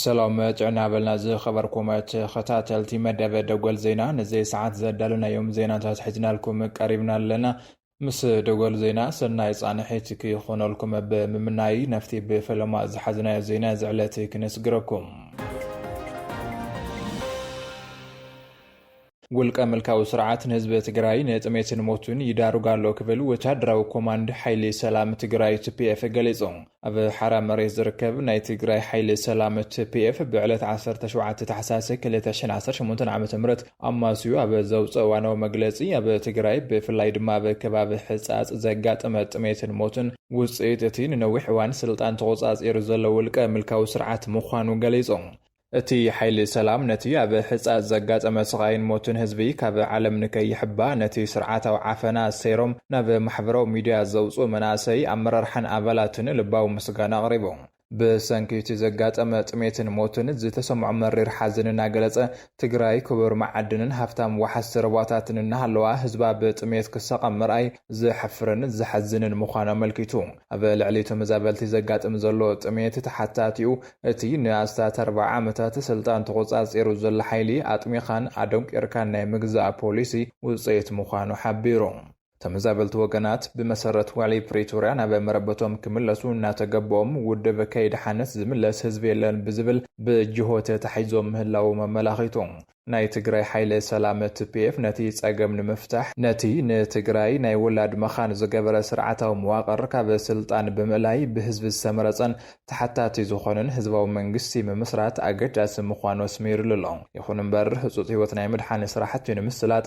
ሰሎም ጥዕና በልና ዝኸበርኩም ተኸታተልቲ መደበ ደጎል ዜና ንዘይ ሰዓት ዘዳለናዮም ዜናታት ሕዝናልኩም ቀሪብና ኣለና ምስ ደጎል ዜና ሰናይ ጻንሒት ክይኾነልኩም ብምምናይ ነፍቲ ብፈለማ ዝሓዝናዮ ዜና እዚ ዕለት ክነስግረኩም። ውልቀ ምልካዊ ስርዓት ንህዝቢ ትግራይ ንጥሜትን ሞቱን ይዳርግ ኣሎ ክብል ወታደራዊ ኮማንድ ሓይሊ ሰላም ትግራይ ትፒኤፍ ገሊጹ። ኣብ ሓራ መሬት ዝርከብ ናይ ትግራይ ሓይሊ ሰላም፣ ትፒኤፍ፣ ብዕለት ዓሰርተ ሸውዓተ ታሕሳስ ክልተ ሽሕን ዓሰርተ ሸሞንተን ዓመተ ምህረት ኣማስዩ ኣብ ዘውፀኦ እዋናዊ መግለፂ፣ ኣብ ትግራይ ብፍላይ ድማ ኣብ ከባቢ ሕፃፅ ዘጋጠመ ጥሜትን ሞትን ውፅኢት እቲ ንነዊሕ እዋን ስልጣን ተቖፃፂሩ ዘሎ ውልቀ ምልካዊ ስርዓት ምዃኑ ገሊፁ። እቲ ሓይሊ ሰላም ነቲ ኣብ ሕጻጽ ዘጋጠመ ስቓይን ሞትን ህዝቢ ካብ ዓለም ንከይሕባ ነቲ ስርዓታዊ ዓፈና ሰይሮም ናብ ማሕበራዊ ሚድያ ዘውጽኡ መናእሰይ ኣመራርሓን ኣባላትን ልባዊ ምስጋና ኣቕሪቡ። ብሰንኪ እቲ ዘጋጠመ ጥሜትን ሞትን ዝተሰምዖ መሪር ሓዘን እናገለጸ፣ ትግራይ ክቡር መዓድንን ሃፍታም ወሓዝቲ ሩባታትን እናሃለዋ ህዝባ ብጥሜት ክሳቐ ምርኣይ ዘሕፍርን ዘሕዝንን ምዃኑ ኣመልኪቱ። ኣብ ልዕሊ ተመዛበልቲ ዘጋጥም ዘሎ ጥሜት ተሓታቲኡ እቲ ንኣስታት ኣርብዓ ዓመታት ስልጣን ተቖጻጺሩ ዘሎ ሓይሊ ኣጥሚኻን ኣደንቊርካን ናይ ምግዛእ ፖሊሲ ውጽኢት ምዃኑ ሓቢሩ። ተመዛበልቲ ወገናት ብመሰረት ውዕሊ ፕሪቶርያ ናብ መረበቶም ክምለሱ እናተገበኦም ውድብ ከይደሓነስ ዝምለስ ህዝቢ የለን ብዝብል ብጅሆ ተታሒዞም ምህላዎም ኣመላኺቱ። ናይ ትግራይ ሓይሊ ሰላም፣ tpf፣ ነቲ ፀገም ንምፍታሕ ነቲ ንትግራይ ናይ ወላድ መኻን ዝገበረ ስርዓታዊ መዋቕር ካብ ስልጣን ብምእላይ ብህዝቢ ዝተመረፀን ተሓታቲ ዝኾነን ህዝባዊ መንግስቲ ምምስራት ኣገዳሲ ምዃኑ ኣስሚርሉ ኣሎ። ይኹን እምበር ህፁፅ ህይወት ናይ ምድሓን ስራሕቲ ንምስላጥ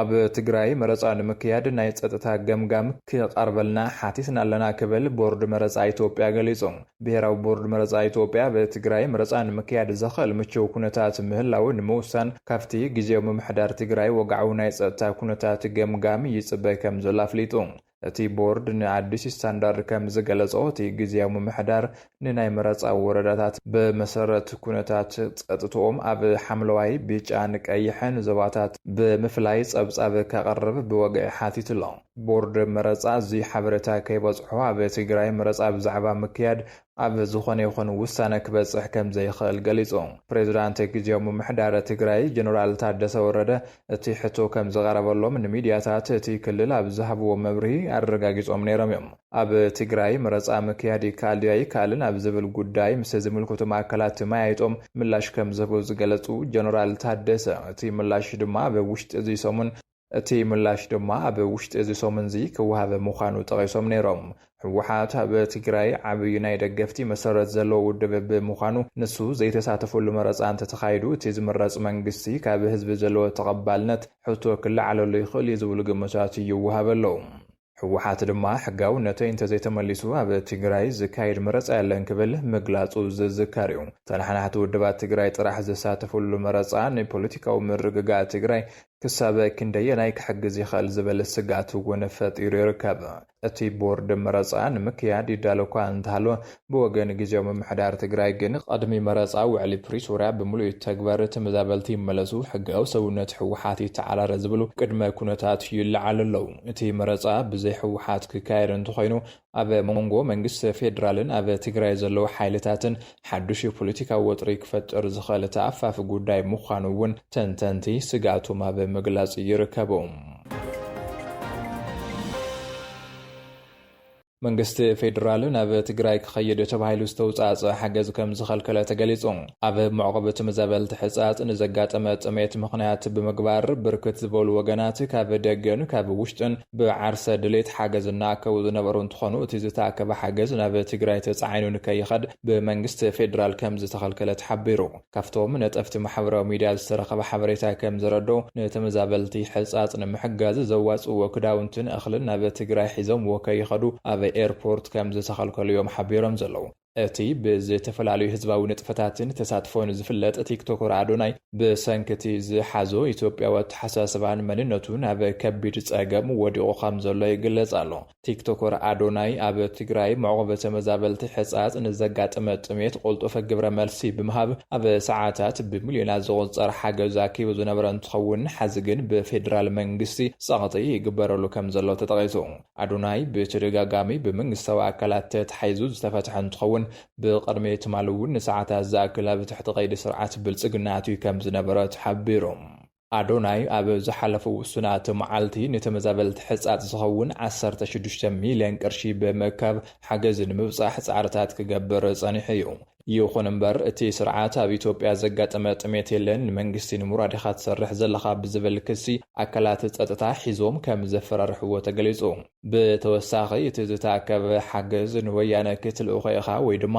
ኣብ ትግራይ መረፃ ንምክያድ ናይ ፀጥታ ገምጋም ክቐርበልና ሓቲትና ኣለና ክብል ቦርድ መረፃ ኢትዮጵያ ገሊፁ። ብሄራዊ ቦርድ መረፃ ኢትዮጵያ ኣብ ትግራይ መረፃ ንምክያድ ዘኽእል ምችው ኩነታት ምህላው ንምውሳን ካብቲ ግዝያዊ ምምሕዳር ትግራይ ወግዓዊ ናይ ፀጥታ ኩነታት ገምጋም ይፅበ ከምዘሎ ኣፍሊጡ። እቲ ቦርድ ንኣዲስ ስታንዳርድ ከም ዝገለጾ፣ እቲ ግዝያዊ ምምሕዳር ንናይ መረጻ ወረዳታት ብመሰረት ኩነታት ጸጥትኦም ኣብ ሓምለዋይ፣ ቢጫን ቀይሕን ዞባታት ብምፍላይ ጸብጻብ ከቕርብ ብወግዒ ሓቲቱ ኣሎ። ቦርድ መረጻ እዚ ሓበሬታ ከይበጽሖ ኣብ ትግራይ መረጻ ብዛዕባ ምክያድ ኣብ ዝኾነ ይኹን ውሳነ ክበፅሕ ከምዘይኽእል ገሊፁ። ፕሬዝዳንት ጊዜያዊ ምምሕዳር ትግራይ ጀነራል ታደሰ ወረደ እቲ ሕቶ ከምዝቐረበሎም ንሚድያታት እቲ ክልል ኣብ ዝሃብዎ መብርሂ ኣረጋጊፆም ነይሮም እዮም። ኣብ ትግራይ መረፃ ምክያድ ይከኣል ድዩ ኣይከኣልን ኣብ ዝብል ጉዳይ ምስ ዝምልከቶም ኣካላት ተመያይጦም ምላሽ ከምዝህቡ ዝገለፁ ጀነራል ታደሰ እቲ ምላሽ ድማ ኣብ ውሽጢ እዚ ሰሙን እቲ ምላሽ ድማ ኣብ ውሽጢ እዚ ሰሙን'ዚ ክወሃብ ምዃኑ ጠቒሶም ነይሮም። ህወሓት ኣብ ትግራይ ዓብዩ ናይ ደገፍቲ መሰረት ዘለዎ ውድብ ብምዃኑ ንሱ ዘይተሳተፈሉ መረፃ እንተተኻይዱ እቲ ዝምረፅ መንግስቲ ካብ ህዝቢ ዘለዎ ተቐባልነት ሕቶ ክለዓለሉ ይኽእል'ዩ ዝብሉ ግምታት ይወሃበሉ። ህወሓት ድማ ሕጋውነተይ እንተዘይተመሊሱ ኣብ ትግራይ ዝካየድ መረፃ የለን ክብል ምግላፁ ዝዝከር እዩ። ተነሓናሕቲ ውድባት ትግራይ ጥራሕ ዝሳተፍሉ መረፃ ንፖለቲካዊ ምርግጋእ ትግራይ ክሳብ ክንደየናይ ክሕግዝ ይኽእል ዝብል ስግኣት እውን ፈጢሩ ይርከብ። እቲ ቦርድ መረፃ ንምክያድ ይዳሎ'ኳ እንተሃለወ ብወገን ግዝያዊ ምምሕዳር ትግራይ ግን ቕድሚ መረፃ ውዕሊ ፕሪቶርያ ብምሉእ ይተግበር፣ ተመዛበልቲ ይመለሱ፣ ሕጋዊ ሰውነት ህወሓት ይተዓራረ ዝብሉ ቅድመ ኩነታት ይለዓሉ ኣለው። እቲ መረፃ ብዘይ ህወሓት ክካየድ እንተኾይኑ ኣብ ሞንጎ መንግስቲ ፌዴራልን ኣብ ትግራይ ዘለው ሓይልታትን ሓዱሽ ፖለቲካዊ ወጥሪ ክፈጥር ዝኽእል ተኣፋፊ ጉዳይ ምዃኑ እውን ተንተንቲ ስግኣቶም ኣብ ምግላፅ ይርከቡ። መንግስቲ ፌዴራል ናብ ትግራይ ክኸይድ ተባሂሉ ዝተውፃእፀ ሓገዝ ከምዝኸልከለ ተገሊፁ። ኣብ መዕቆቢ ትምዘበልቲ ሕፃፅ ንዘጋጠመ ጥሜት ምኽንያት ብምግባር ብርክት ዝበሉ ወገናት ካብ ደገን ካብ ውሽጥን ብዓርሰ ድሌት ሓገዝ እናኣከቡ ዝነበሩ እንትኾኑ እቲ ዝተኣከበ ሓገዝ ናብ ትግራይ ተፃዒኑ ንከይኸድ ብመንግስቲ ፌዴራል ከምዝተኸልከለ ተሓቢሩ። ካብቶም ነጠፍቲ ማሕበራዊ ሚድያ ዝተረኸበ ሓበሬታ ከም ዘረድኦ፣ ንተመዛበልቲ ሕፃፅ ንምሕጋዝ ዘዋፅእዎ ክዳውንትን እኽልን ናብ ትግራይ ሒዞምዎ ከይኸዱ ኣብ ኤርፖርት ከም ዝተኸልከሉ እዮም ሓቢሮም ዘለዉ። እቲ ብዝተፈላለዩ ህዝባዊ ንጥፈታትን ተሳትፎን ዝፍለጥ ቲክቶከር ኣዶናይ፣ ብሰንኪ እቲ ዝሓዞ ኢትዮጵያዊ ኣተሓሳስባን መንነቱን ኣብ ከቢድ ፀገም ወዲቑ ከም ዘሎ ይግለፅ ኣሎ። ቲክቶከር ኣዶናይ ኣብ ትግራይ መዕቖቢ ተመዛበልቲ ሕፃፅ ንዘጋጠመ ጥሜት ቁልጡፍ ግብረ መልሲ ብምሃብ ኣብ ሰዓታት ብሚልዮናት ዝቑፀር ሓገዝ ኣኪቡ ዝነበረ እንትኸውን ሐዚ ግን ብፌዴራል መንግስቲ ፀቕጢ ይግበረሉ ከምዘሎ ተጠቒሱ። ኣዶናይ ብተደጋጋሚ ብመንግስታዊ ኣካላት ተታሒዙ ዝተፈትሐ እንትኸውን ብቕድሚ ትማሊ እውን ንሰዓታት ዝኣክል ኣብ ትሕቲ ቀይዲ ስርዓት ብልፅግና ኣትዩ ከምዝነበረ ተሓቢሩ። ኣዶናይ ኣብ ዝሓለፉ ውሱናት መዓልቲ ንተመዛበልቲ ሕጻጽ ዝኸውን ዓሰርተ ሽዱሽተ ሚልዮን ቅርሺ ብምእካብ ሓገዝ ንምብጻሕ ጻዕርታት ክገብር ጸኒሑ እዩ። ይኹን እምበር እቲ ስርዓት ኣብ ኢትዮጵያ ዘጋጠመ ጥሜት የለን፣ ንመንግስቲ ንምውራድ ኢኻ ትሰርሕ ዘለኻ ብዝብል ክሲ ኣካላት ጸጥታ ሒዞም ከም ዘፈራርሕዎ ተገሊጹ። ብተወሳኺ እቲ ዝተኣከበ ሓገዝ ንወያነ ክትልእኾ ኢኻ ወይ ድማ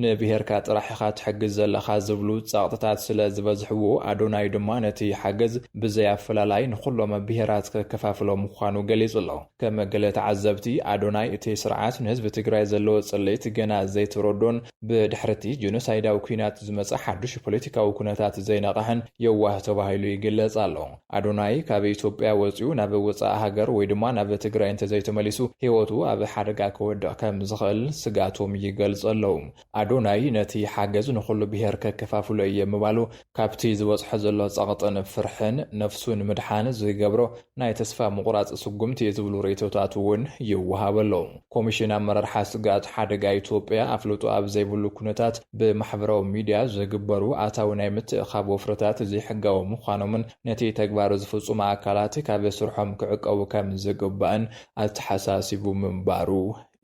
ንብሄርካ ጥራሕ ኢኻ ትሕግዝ ዘለኻ ዝብሉ ጸቕጥታት ስለ ዝበዝሕዎ፣ ኣዶናይ ድማ ነቲ ሓገዝ ብዘይ ኣፈላላይ ንኹሎም ብሄራት ከከፋፍሎ ምዃኑ ገሊጹ ኣሎ። ከም ገለ ተዓዘብቲ፣ ኣዶናይ እቲ ስርዓት ንህዝቢ ትግራይ ዘለዎ ጽልኢት ገና ዘይተረድኦን ብድሕሪ'ቲ ጀኖሳይዳዊ ኲናት ዝመጸ ሓዱሽ ፖለቲካዊ ኩነታት ዘይነቐሐን የዋህ ተባሂሉ ይግለጽ ኣሎ። ኣዶናይ ካብ ኢትዮጵያ ወጺኡ ናብ ወጻኢ ሃገር ወይ ድማ ናብ ትግራይ እንተዘይተመሊሱ ህይወቱ ኣብ ሓደጋ ክወድቕ ከምዝኽእል ስግኣቶም ይገልጹ ኣለዉ። ኣዶናይ ነቲ ሓገዝ ንኹሉ ብሄር ከከፋፍሎ እየ ምባሉ ካብቲ ዝበጽሖ ዘሎ ጸቕጥን ፍርሕን ነፍሱ ንምድሓን ዝገብሮ ናይ ተስፋ ምቑራጽ ስጉምቲ እዩ ዝብሉ ርእይቶታት እውን ይወሃቡ ኣለዉ። ኮሚሽን ኣመራርሓ ስግኣት ሓደጋ ኢትዮጵያ ኣፍልጦ ኣብ ዘይብሉ ኩነታት ብማሕበራዊ ሚድያ ዝግበሩ ኣታዊ ናይ ምትእኻብ ወፍርታት ዘይሕጋዊ ምዃኖምን ነቲ ተግባር ዝፍፅሙ ኣካላት ካብ ስርሖም ክዕቀቡ ከም ዝግባእን ኣተሓሳሲቡ ምንባሩ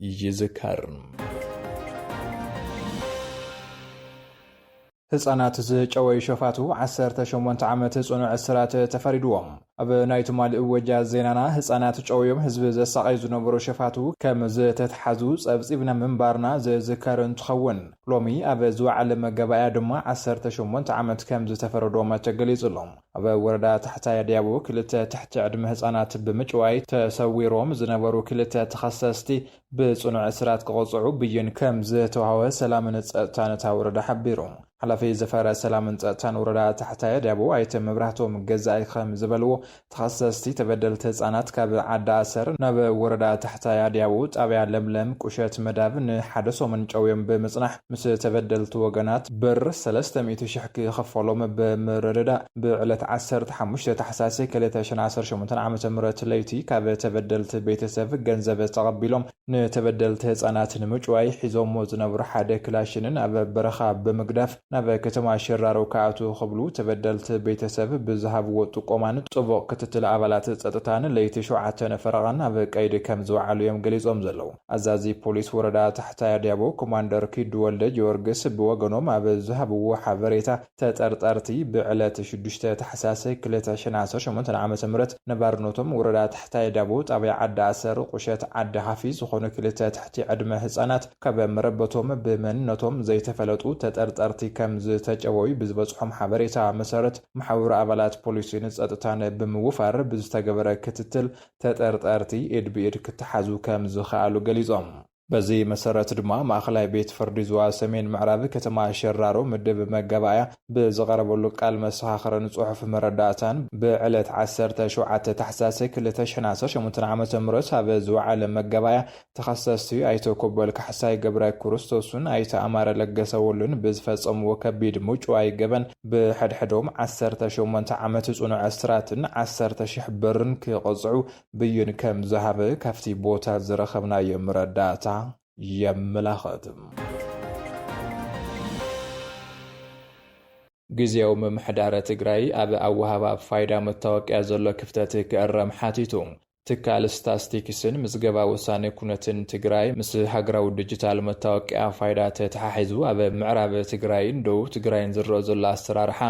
ይዝከር። ህጻናት ዝጨወዩ ሸፋቱ ዓሰርተ ሸሞንተ ዓመት ጽኑዕ እስራት ተፈሪድዎም። ኣብ ናይ ትማሊ እወጃ ዜናና ህጻናት ጨውዮም ህዝቢ ዘሳቐዩ ዝነበሩ ሸፋቱ ከም ዝተትሓዙ ጸብጺብና ምንባርና ዝዝከር እንትኸውን፣ ሎሚ ኣብ ዝወዓለ መጋባእያ ድማ ዓሰርተ ሸሞንተ ዓመት ከም ዝተፈረዶም ተገሊጹ ኣሎ። ኣብ ወረዳ ታሕታይ ኣድያቦ ክልተ ትሕቲ ዕድመ ህጻናት ብምጭዋይ ተሰዊሮም ዝነበሩ ክልተ ተኸሰስቲ ብፅኑዕ እስራት ክቕፅዑ ብይን ከም ዝተውሃበ ሰላምን ፀጥታን እታ ወረዳ ሓቢሩ። ሓላፊ ዘፈረ ሰላምን ፀጥታን ወረዳ ታሕታይ ኣድያቦ ኣይተ መብራህቶም ገዛኢ ከም ዝበልዎ፣ ተኸሰስቲ ተበደልቲ ህፃናት ካብ ዓዲ ኣሰር ናብ ወረዳ ታሕታይ ኣድያቦ ጣብያ ለምለም ቁሸት መዳብ ንሓደ ሰሙን ጨውዮም ብምፅናሕ፣ ምስ ተበደልቲ ወገናት ብር ሰለስተ ሚእቲ ሽሕ ክኸፈሎም ብምርድዳእ ብዕለት ዓሰርተ ሓሙሽተ ታሕሳስ ክልተ ሽሕን ዓሰርተ ሸሞንተን ዓመተ ምህረት ለይቲ ካብ ተበደልቲ ቤተሰብ ገንዘብ ተቐቢሎም ንተበደልቲ ህፃናት ንምጭዋይ ሒዞሞ ዝነበሩ ሓደ ክላሽንን ኣብ በረኻ ብምግዳፍ ናብ ከተማ ሽራሮ ክኣትዉ ክብሉ ተበደልቲ ቤተሰብ ብዝሃብዎ ጥቆማን ጥቡቕ ክትትል ኣባላት ፀጥታን ለይቲ ሸውዓተ ፈረቓ ኣብ ቀይዲ ከምዝወዓሉ እዮም ገሊፆም ዘለዉ። ኣዛዚ ፖሊስ ወረዳ ታሕታይ ኣድያቦ ኮማንደር ኪዱ ወልደጊዮርግስ ብወገኖም ኣብ ዝሃብዎ ሓበሬታ፣ ተጠርጠርቲ ብዕለት ሽዱሽተ ታሕሳስ ክልተ ሽሕን ዓሰርተ ሸሞንተን ዓመተ ምህረት ነባርነቶም ወረዳ ታሕታይ ኣድያቦ ጣብያ ዓዲ ኣሰር ቁሸት ዓዲ ሃፊ ዝኾኑ ክልተ ትሕቲ ዕድመ ህፃናት ካብ መረበቶም ብመንነቶም ዘይተፈለጡ ተጠርጠርቲ ከምዝተጨወዩ ብዝበፅሖም ሓበሬታ መሰረት መሓውር ኣባላት ፖሊስን ፀጥታን ብምውፋር ብዝተገበረ ክትትል ተጠርጠርቲ ኢድ ብኢድ ክተሓዙ ከም ዝኸኣሉ ገሊፆም። በዚ መሰረት ድማ ማእኸላይ ቤት ፍርዲ ዞባ ሰሜን ምዕራብ ከተማ ሸራሮ ምድብ መጋባእያ ብዝቐረበሉ ቃል መሰኻኽርን ፅሑፍ መረዳእታን ብዕለት ዓሰርተ ሸውዓተ ታሕሳስ ክልተ ሽሕን ዓሰርተ ሸሞንተን ዓመተ ምህረት ኣብ ዝወዓለ መጋባእያ ተኸሰስቲ ኣይተ ኮበል ካሕሳይ፣ ገብራይ ኩርስቶስን ኣይተ ኣማረ ለገሰ ወሉን ብዝፈፀምዎ ከቢድ ምጩዋይ ገበን ብሐድሕዶም ዓሰርተ ሸሞንተ ዓመት ፅኑዕ እስራትን ዓሰርተ ሽሕ ብርን ክቕፅዑ ብይን ከምዝሃበ ካብቲ ቦታ ዝረኸብናዮ መረዳእታ የመላኽት። ግዝያዊ ምምሕዳረ ትግራይ ኣብ ኣወሃህባ ፋይዳ መታወቅያ ዘሎ ክፍተት ክእረም ሓቲቱ። ትካል ስታስቲክስን ምዝገባ ውሳኔ ኩነትን ትግራይ ምስ ሃገራዊ ድጅታል መታወቅያ ፋይዳ ተተሓሒዙ ኣብ ምዕራብ ትግራይን ደቡብ ትግራይን ዝረእ ዘሎ ኣሰራርሓ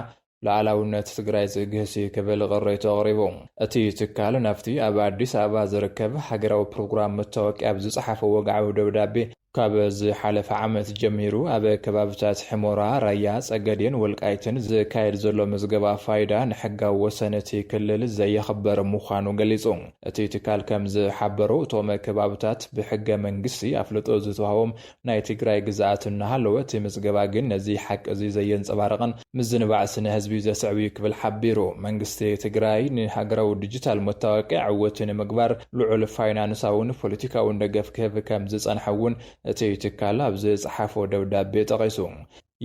ሉኣላዊነት ትግራይ ዝግህስ እዩ ክብል ቅሬቱ ኣቕሪቡ። እቲ ትካል ናብቲ ኣብ ኣዲስ ኣበባ ዝርከብ ሃገራዊ ፕሮግራም መታወቅያ ብዝፀሓፎ ወግዓዊ ደብዳቤ ካብ ዝሓለፈ ዓመት ጀሚሩ ኣብ ከባብታት ሕሞራ፣ ራያ፣ ጸገዴን ወልቃይትን ዝካየድ ዘሎ ምዝገባ ፋይዳ ንሕጋዊ ወሰን እቲ ክልል ዘየኽብር ምዃኑ ገሊጹ። እቲ ትካል ከም ዝሓበሮ እቶም ከባብታት ብሕገ መንግስቲ ኣፍልጦ ዝተዋህቦም ናይ ትግራይ ግዝኣት እናሃለወ እቲ ምዝገባ ግን ነዚ ሓቂ እዚ ዘየንጸባርቕን ምዝንባዕ ስነ ህዝቢ ዘስዕብ'ዩ ክብል ሓቢሩ። መንግስቲ ትግራይ ንሃገራዊ ዲጂታል መታወቂያ ዕውት ንምግባር ልዑል ፋይናንሳውን ፖለቲካውን ደገፍ ክህብ ከም ዝጸንሐ እውን እቲ ትካል ኣብ ዝጸሓፎ ደብዳቤ ጠቒሱ።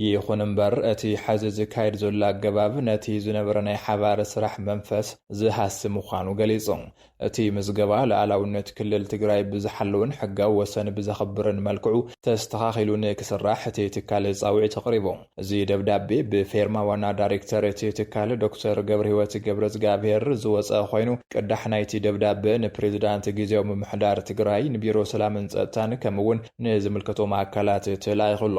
ይኹን እምበር እቲ ሐዚ ዝካየድ ዘሎ ኣገባብ ነቲ ዝነበረ ናይ ሓባር ስራሕ መንፈስ ዝሃሲ ምዃኑ ገሊጹ። እቲ ምዝገባ ልኣላውነት ክልል ትግራይ ብዝሓልውን ሕጋዊ ወሰን ብዘኽብርን መልክዑ ተስተኻኺሉ ንክስራሕ እቲ ትካል ፃውዒት ኣቕሪቡ። እዚ ደብዳቤ ብፌርማ ዋና ዳሪክተር እቲ ትካል ዶክተር ገብርሂወት ገብረዝግኣብሄር ዝወፀ ኾይኑ ቅዳሕ ናይቲ ደብዳበ ንፕሬዝዳንት ጊዚያዊ ምምሕዳር ትግራይ፣ ንቢሮ ሰላምን ፀጥታን ከምኡ እውን ንዝምልከቶም ኣካላት ተላኢኹ ኣሎ።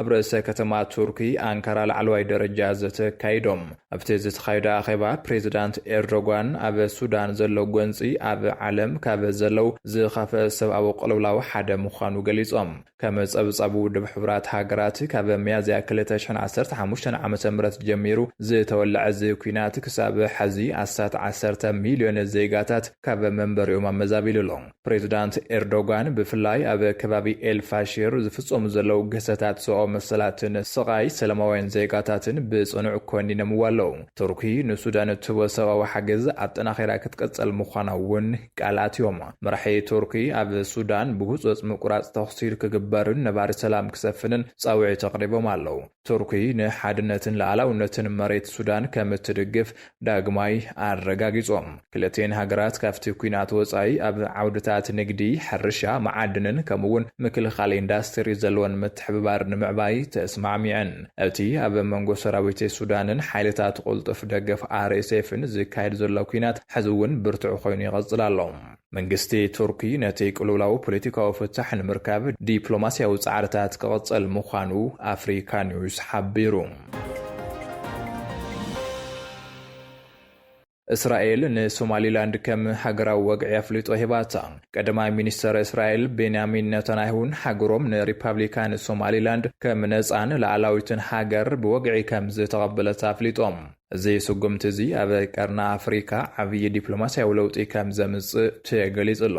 ኣብ ርእሰ ከተማ ቱርኪ ኣንካራ ላዕለዋይ ደረጃ ዘተ ኣካይዶም። ኣብቲ ዝተኻየደ ኣኼባ ፕሬዚዳንት ኤርዶጓን ኣብ ሱዳን ዘሎ ጎንፂ ኣብ ዓለም ካብ ዘለው ዝኸፍእ ሰብኣዊ ቅልውላው ሓደ ምዃኑ ገሊፆም። ከም ፀብፃብ ውድብ ሕቡራት ሃገራት ካብ ሚያዝያ ክልተ ሽሕን ዓሰርተ ሓሙሽተን ዓመተ ምህረት ጀሚሩ ዝተወለዐ እዚ ኲናት ክሳብ ሐዚ ኣስታት ዓሰርተ ሚሊዮን ዜጋታት ካብ መንበሪኦም ኣመዛቢሉ ኣሎ። ፕሬዚዳንት ኤርዶጋን ብፍላይ ኣብ ከባቢ ኤልፋሽር ዝፍፀሙ ዘለዉ ግህሰታት ሰብኣዊ መሰላትን ስቓይ ሰላማውያን ዜጋታትን ብፅኑዕ ኮኒነምዎ ኣለዉ። ቱርኪ ንሱዳን እትህቦ ሰብኣዊ ሓገዝ ኣጠናኺራ ክትቅፅል ምዃና እውን ቃል ኣትዮም። መራሒ ቱርኪ ኣብ ሱዳን ብህፁፅ ምቁራፅ ተኹሲ ክግበርን ነባሪ ሰላም ክሰፍንን ፃውዒት ኣቕሪቦም ኣለዉ። ቱርኪ ንሓድነትን ልኣላውነትን መሬት ሱዳን ከም እትድግፍ ዳግማይ ኣረጋጊጾም። ክልቲኤን ሃገራት ካብቲ ኲናት ወጻኢ ኣብ ዓውድታት ንግዲ፣ ሕርሻ፣ መዓድንን ከምኡ'ውን ምክልኻል ኢንዳስትሪ ዘለወን ምትሕብባር ንምዕባይ ተስማዕሚዐን። እቲ ኣብ መንጎ ሰራዊት ሱዳንን ሓይልታት ቁልጡፍ ደገፍ RSFን ዝካየድ ዘሎ ኲናት ሕዚ'ውን ብርቱዕ ኮይኑ ይቕጽል ኣሎ። መንግስቲ ቱርኪ ነቲ ቅልውላው ፖለቲካዊ ፍታሕ ንምርካብ ዲፕሎማስያዊ ጻዕርታት ክቕጽል ምዃኑ ኣፍሪካ ኒውስ ሓቢሩ። እስራኤል ንሶማሊላንድ ከም ሃገራዊ ወግዒ ኣፍልጦ ሂባታ ቀዳማይ ሚኒስተር እስራኤል ቤንያሚን ነታንያሁን ሃገሮም ንሪፓብሊካን ሶማሊላንድ ከም ነፃን ላዕላዊትን ሃገር ብወግዒ ከም ዝተቐበለት ኣፍሊጦም እዚ ስጉምቲ እዚ ኣብ ቀርኒ ኣፍሪካ ዓብዪ ዲፕሎማሲያዊ ለውጢ ከም ዘምፅእ ተገሊፁ ኣሎ።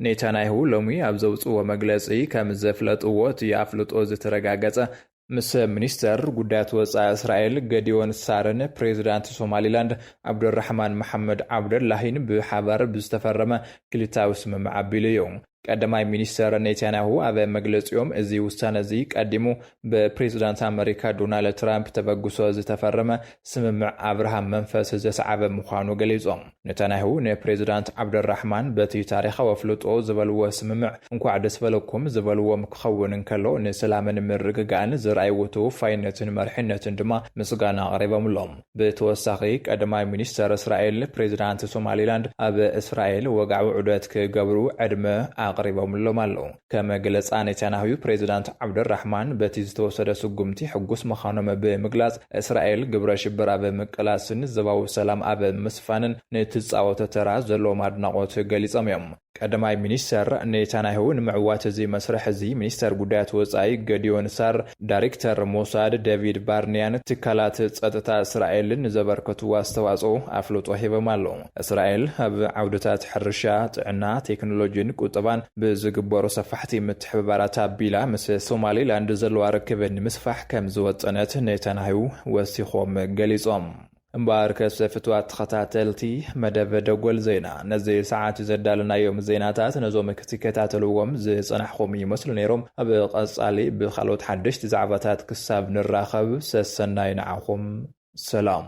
ኔታንያሁ ሎሚ ኣብ ዘውፅእዎ መግለፂ ከም ዘፍለጥዎ እቲ ኣፍልጦ ዝተረጋገፀ፣ ምስ ሚኒስተር ጉዳያት ወፃኢ እስራኤል ገዲዮን ሳርን ፕሬዚዳንት ሶማሊላንድ ዓብደልራሕማን መሓመድ ዓብደላሂን ብሓባር ብዝተፈረመ ክልቲኣዊ ስምምዕ ኣቢሉ እዩ። ቀዳማይ ሚኒስተር ኔታንያሁ ኣብ መግለጺኦም፣ እዚ ውሳነ'ዚ ቀዲሙ ብፕሬዚዳንት ኣመሪካ ዶናልድ ትራምፕ ተበግሶ ዝተፈረመ ስምምዕ ኣብርሃም መንፈስ ዘስዓበ ምዃኑ ገሊጾም። ኔታንያሁ ንፕሬዚዳንት ዓብደልራሕማን በቲ ታሪኻዊ ኣፍልጦ ዝበልዎ ስምምዕ እንኳዕ ደስ በለኩም ዝበልዎም ክኸውን እንከሎ፣ ንሰላምን ምርግጋእን ዘርኣይዎ ተወፋይነትን መሪሕነትን ድማ ምስጋና ኣቕሪቦምሎም። ብተወሳኺ ቀዳማይ ሚኒስተር እስራኤል፣ ፕሬዚዳንት ሶማሊላንድ ኣብ እስራኤል ወግዓዊ ዑደት ክገብሩ ዕድመ ኣቕሪቦምሎም ኣለዉ። ከም ገለፃ ኔታንያሁ፣ ፕሬዚዳንት ዓብደልራሕማን በቲ ዝተወሰደ ስጉምቲ ሕጉስ ምዃኖም ብምግላፅ፣ እስራኤል ግብረ ሽብር ኣብ ምቅላስን ዞባዊ ሰላም ኣብ ምስፋንን ንትፃወቶ ተራ ዘለዎም ኣድናቖት ገሊፆም እዮም። ቀዳማይ ሚኒስተር ኔታንያሁ ንምዕዋት እዚ መስርሕ እዚ ሚኒስተር ጉዳያት ወጻኢ ገዲዮን ሳር፣ ዳይሬክተር ሞሳድ ደቪድ ባርንያን ትካላት ጸጥታ እስራኤልን ንዘበርከትዎ ኣስተዋጽኦ ኣፍልጦ ሂቦም ኣለዉ። እስራኤል ኣብ ዓውድታት ሕርሻ፣ ጥዕና፣ ቴክኖሎጂን ቁጠባን ብዝግበሩ ሰፋሕቲ ምትሕብባራት ኣቢላ ምስ ሶማሊላንድ ዘለዋ ርክብ ንምስፋሕ ከምዝወጠነት ኔታንያሁ ወሲኾም ገሊጾም። እምበኣርከሰ ፍትዋት ተኸታተልቲ መደብ ደጎል ዜና፣ ነዚ ሰዓት'ዚ ዘዳለናዮም ዜናታት ነዞም ክትከታተልዎም ዝጸናሕኹም ይመስሉ ነይሮም። ኣብ ቀጻሊ ብኻልኦት ሓደሽቲ ዛዕባታት ክሳብ ንራኸብ ሰሰናዩ ንዓኹም። ሰላም።